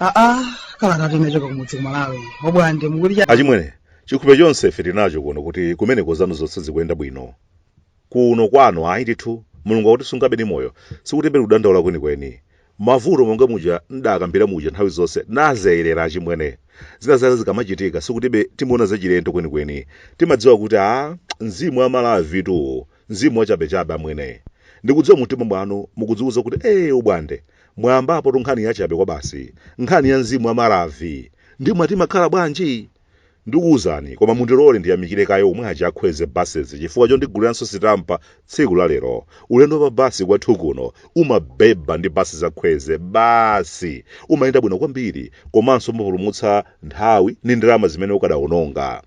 aa kalata tinachoka kumudzi kumalawi obwande mukuti cha achimwene chikhupe chonse ife tinacho kuno kuti kumeneko zanu zonse zikuyenda bwino kuno kwanu ayi ndithu mulungu akutisungabe ndi moyo sikuti pali kudandaula kwenikweni Mavuto monga muja ndidakambira muja nthawi zonse nazayerera achimwene. Zina zake zikamachitika sikuti ife timaona zachilendo kwenikweni. Timadziwa kuti a mzimu wa Maravitu mzimu wachabechabe amwene. Ndikudziwa mumtima mwanu mukudziuza kuti ee obwande, mwayambapotu nkhani yachabe kwabasi, nkhani ya mzimu wa Maravi. Ndiye mwati imakhala bwanji? Ndukuuzani koma mundilore ndiyamikire kaye omwe aja a Kwezy Buses chifukwa chondiguliranso sitampa tsiku la lero. Ulendo wa pa bus kwathu kuno umabhebha ndi bus za Kwezy basi! Umayenda bwino kwambiri komanso umapulumutsa nthawi ndi ndalama zimene ukadaononga.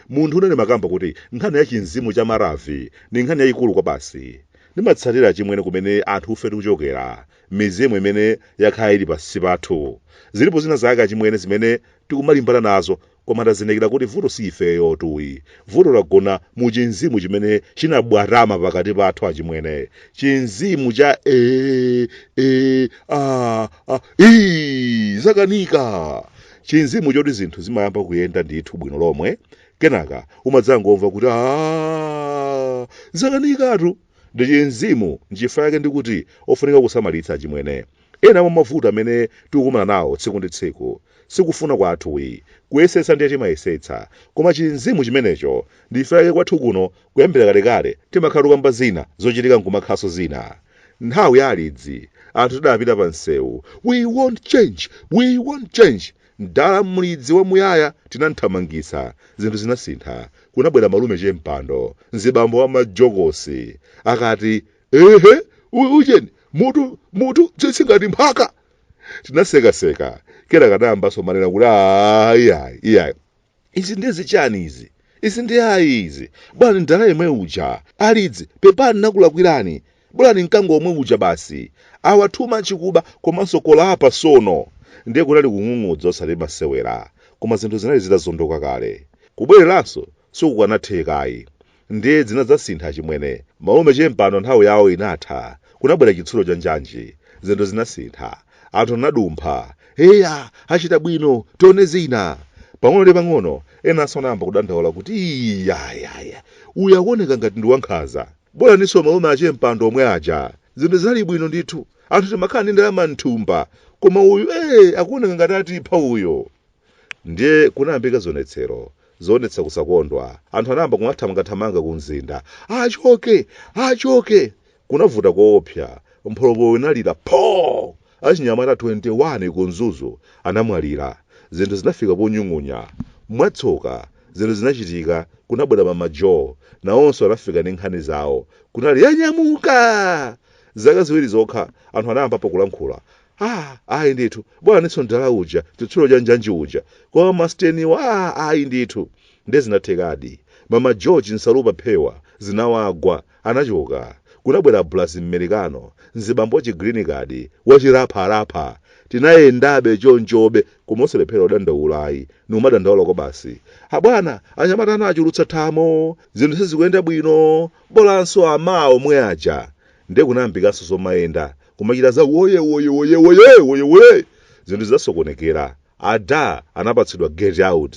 Munthune ndimakamba kuti nkhani ya chimzimu cha Maravi ndi nkhani yayikulu kwabasi. Ndimatsatira achimwene kumene anthufe tikuchokera. mizimu imene yakhala ili pansi pathu zilipo zina zake achimwene zimene tikumalimbana nazo koma tazindikira kuti vuto si ifeyotuyi vuto lagona mu chinzimu chimene chinabwatama pakati pathu achimwene chinzimu cha e, e, a, a, i, zakanika chinzimu choti zinthu zimayamba kuyenda ndithu bwino lomwe kenaka umadzangomva kuti a zakanikatu ndi chimzimu. Nchifukwa chake ndikuti ofunika kusamalitsa achimwene. Ena mwa mavuto amene tikukumana nawo tsiku ndi tsiku sikufuna kwathuyi. Kuyesetsa ndiye timayesetsa, koma chimzimu chimenecho. Ndi chifukwa chake kwathu kuno kuyambira kalekale timakhala tikukamba zina zochitika nkumakhalanso zina. Nthawi ya alidzi anthu tidapita pa msewu, we want change! We want change! Mdala mlidzi wa Muyaya tinamthamangitsa, zinthu zinasintha. Kunabwera malume Chempando, mzibambo wa majokosi, akati, Ehe, u- ujeni, mutu, mutu, tsitsi ngati mphaka. Tinasekaseka, kenaka anayambanso manena kuti ayi, ayi, iyayi. izi ndiye zichani izi izi ndiye ayi izi bolani mdala yemwe uja alidzi pepani nakulakwirani bolani mkango omwe uja basi awa too much kuba komanso corruption ndiye kunali kung'ung'udza osati masewera koma zinthu zinali zitazondoka kale kubwereranso sikukanathekayi Ndiye zinadzasintha achimwene. Malume chempando nthawi yawo inatha. Kunabwera chitsulo cha njanji. Zinthu zinasintha. Anthu anadumpha. Heya! Achita bwino! Tione zina! Pang'ono ndi pang'ono, enanso anayamba kudandaula kuti iyayaya! Uyu akuoneka ngati ndi wankhanza. Bolaninso malume achempando omwe aja. Zinthu zinali bwino ndithu. Anthu timakhala ndi ndalama m'thumba. Koma uyu ee akuoneka ngati atipha uyo. Ndiye kunayambika zionetsero zoonetsa kusakondwa. Anthu anayamba kumathamangathamanga kumzinda. Achoke! Achoke! Kunavuta koopsa. Mpholopolo inalira pho! Achinyamata 20 ku Mzuzu anamwalira. Zinthu zinafika ponyung'unya. Mwatsoka, zinthu zinachitika, kunabwera Mama Jo. Nawonso anafika ndi nkhani zawo. Kunali yanyamuka! Zaka ziwiri zokha, anthu anayambapo kulankhula. ah ayi ndithu bola nditso mdala uja chitsulo cha njanji uja koma masteniwa ah ayi ndithu nde zinathekadi mama Jo nsalupa phewa zinawagwa anachoka kunabwera bulazi mmerikano mzibambo wa chigreen card wachirapharapha tinayendabe chonchobe koma osalephera udandaulayi niumadandaula kwa basi abwana anyamata anachulutsa matamo zinthu sizikuyenda bwino bolanso amawo omwe aja nde kunayambikanso zomayenda kumachita za woye woye woye woye woye woye zinthu zidasokonekera ada anapatsidwa get out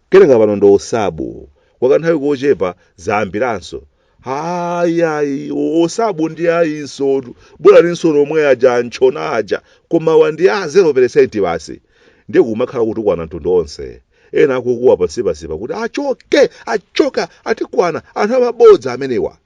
kenaka pano ndi osabu kwa kanthawi kochepa zayambiranso ayi ayi osabu ndi ayinso bolaninso omwe aja antchona aja koma awa ndi a 0 basi ndiye tikumakhala kutukwana mtundu onse ena akukuwa pansipansipa kuti achoke achoke atikwana anthu amabodza amenewa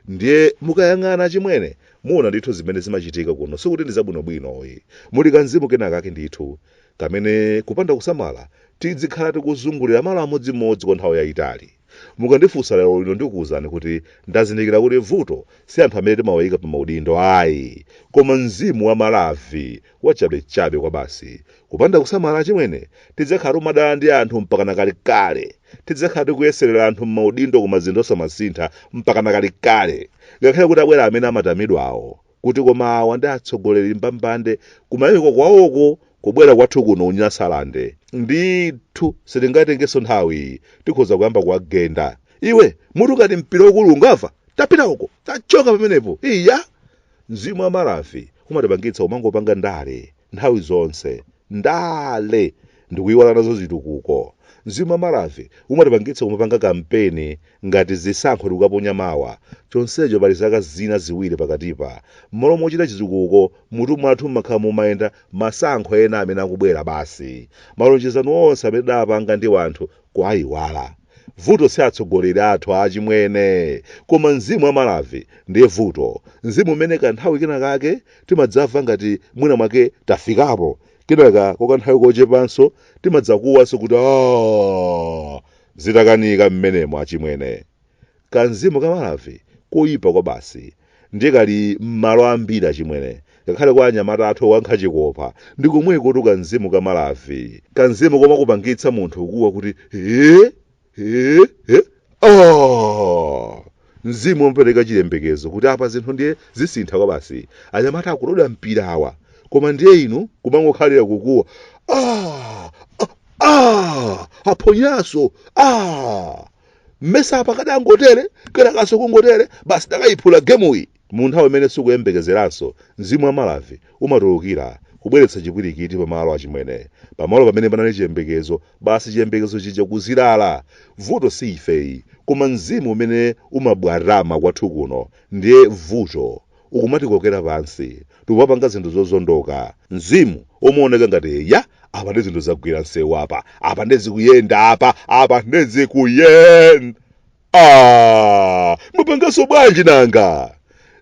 ndiye mukayang'ana achimwene muona ndithu zimene zimachitika kuno sikuti ndi zabwinobwino ayi muli kamzimu kenakake ndithu kamene kupanda kusamala tidzikhala tikuzungulira malo amodzimodzi kwa nthawi yayitali mukandifunsa lero lino ndikuwuzani kuti ndazindikira kuti vuto si anthu amene timawayika pa maudindo ayi koma mzimu wa malavi wachabechabe kwabasi kupanda kusamala achimwene tidzakhala tikumadana ndi anthu mpakana kalekale tidzakhala tikuyeserera anthu m'maudindo koma zinthu osamasintha mpakana kalekale ngakhale atabwera amene amatamidwawo kuti koma awa ndi atsogoleri mbambande kumayiko kwawoko kubwera kwathu kuno unyasalande ndithu sitingatengenso nthawi tikhoza kuyamba kuwagenda iwe mutu ngati mpira ukulu unga watapita uko tachoka pamenepo iya Mzimu wa Malavi umatipangitsa kumangopanga ndale nthawi zonse. Ndale! Ndikuiwala nazo zitukuko. Mzimu wa Malavi umatipangitsa kumapanga kampeni ngati zisankho tikukaponya mawa, chonsecho pali zaka zina ziwiri pakatipa. M'malo mochita chitukuko, m'mutu mwathu mumakhala mumayenda masankho ena amene akubwera basi. Malonjezano onse amene tidapanga ndi wanthu kuaiwala. Vuto si atsogoleri athu achimwene, koma mzimu wa Malavi ndiye vuto. Mzimu umene kanthawi kena kake timadzamva ngati mwina mwake tafikapo, kenaka kwa kanthawi kochepanso timadzakuwanso kuti aah! Zitakanika mmenemo achimwene. Kamzimu ka Malavi koyipa kwabasi. ndiye kali m'malo ambiri achimwene ngakhale kwa anyamata athu owonkha chikopa ndi komwekotu kamzimu ka malavi kamzimu komakupangitsa munthu kuwa kuti ee ee ee oh! mzimu omapereka chiyembekezo kuti apa zinthu ndiye zisintha kwabasi anyamata akulodwa mpira awa koma ndiye inu kumangokhalira kukuwa ah! ah! ah! aphonyaso ah! mmesa apa kadangotere kenakaso kungotere basi takaiphula gemuyi mu nthawi imene sikuyembekezeranso mzimu wa malavi umatulukira kubweretsa chipwirikiti pamalo achimwene pamalo pamene panali chiyembekezo basi chiyembekezo chija kuzirala vuto si ifeyi koma mzimu umene umabwatama kwathu kuno ndiye vuto ukumatikokera pansi tikumapanga zinthu zozondoka mzimu womaoneka ngati ya apa ndi zinthu zagwira msewu apa apa ndi zikuyenda apa apa ndi zikuyenda ah, mwapanganso bwanji nanga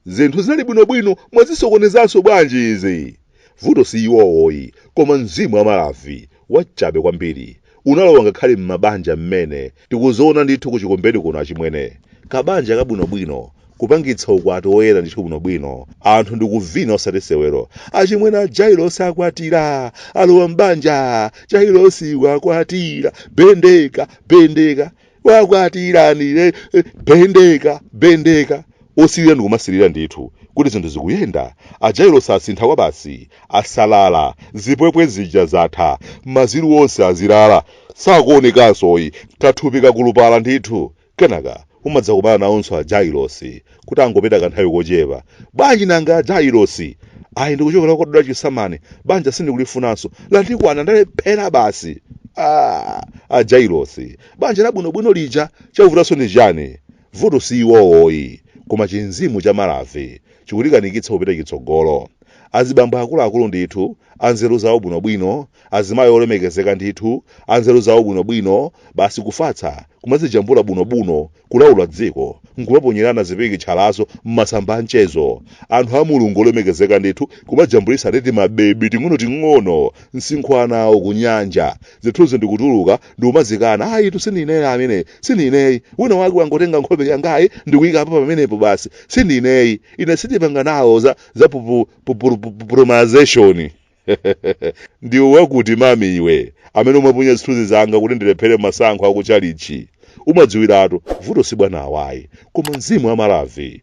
zinthu zinali bwinobwino mwazisokonezanso bwanji izi vuto si iwowoyi koma mzimu wamalavi wachabe kwambiri unalowa ngakhale m'mabanja mmene tikuzionera ndithu ku chikombeni kuno achimwene kabanja kabwinobwino kupangitsa ukwati woyera ndithu bwinobwino anthu ndikuvina osati sewero achimwene a jailosi akwatira alowa mbanja jailosi wakwatira bendeka bendeka wakwatirani eh, eh, bendeka bendeka Osirira ndikumasirira ndithu kuti zinthu zikuyenda, a Jailosi asintha kwabasi, asalala, zipwepwe zija zatha, maziru onse azilala, sakuonekansoyi, kathupi kakulupala ndithu. Kenaka umadzakumana nawonso a Jailosi kuti angopita kanthawi kochepa. Bwanji nanga a Jailosi? Ayi ndikuchokera kokadula chisamani, banja sindikulifunanso, lantikwana ndalephera basi. Aaa a Jailosi, banja labwinobwino lija chavutanso ndi chiyani? Vuto si iwowoyi koma chi mzimu cha malavi chikutikanikitsa kupita chitsogolo. Azibambo akuluakulu ndithu, anzeru zawo bwinobwino, azimayi olemekezeka ndithu, anzeru zawo bwinobwino, basi kufatsa kumadzijambula bunobuno kulaula dziko nkumaponyerana zipikitchalazo m'masamba amchezo. Anthu a Mulungu olemekezeka ndithu kumajambulitsa ndi timabebi ting'onoting'ono msinkhu wa ana awo kunyanja. zithunzi ndikutuluka ndikumazikana ayitu sindiineyi amene sindiineyi wina wake wangotenga nkhope yangayi ndikuyikapo pamenepo basi sindiineyi ine sindipanga nawo za za pupu- pupu- pupu- promanization ndiwe wakuti mamiwe amene umapunya zithunzi zanga kuti ndilephere masankho akuchalichi umadziwiratu vuto si bwana awayi koma mzimu wamalavi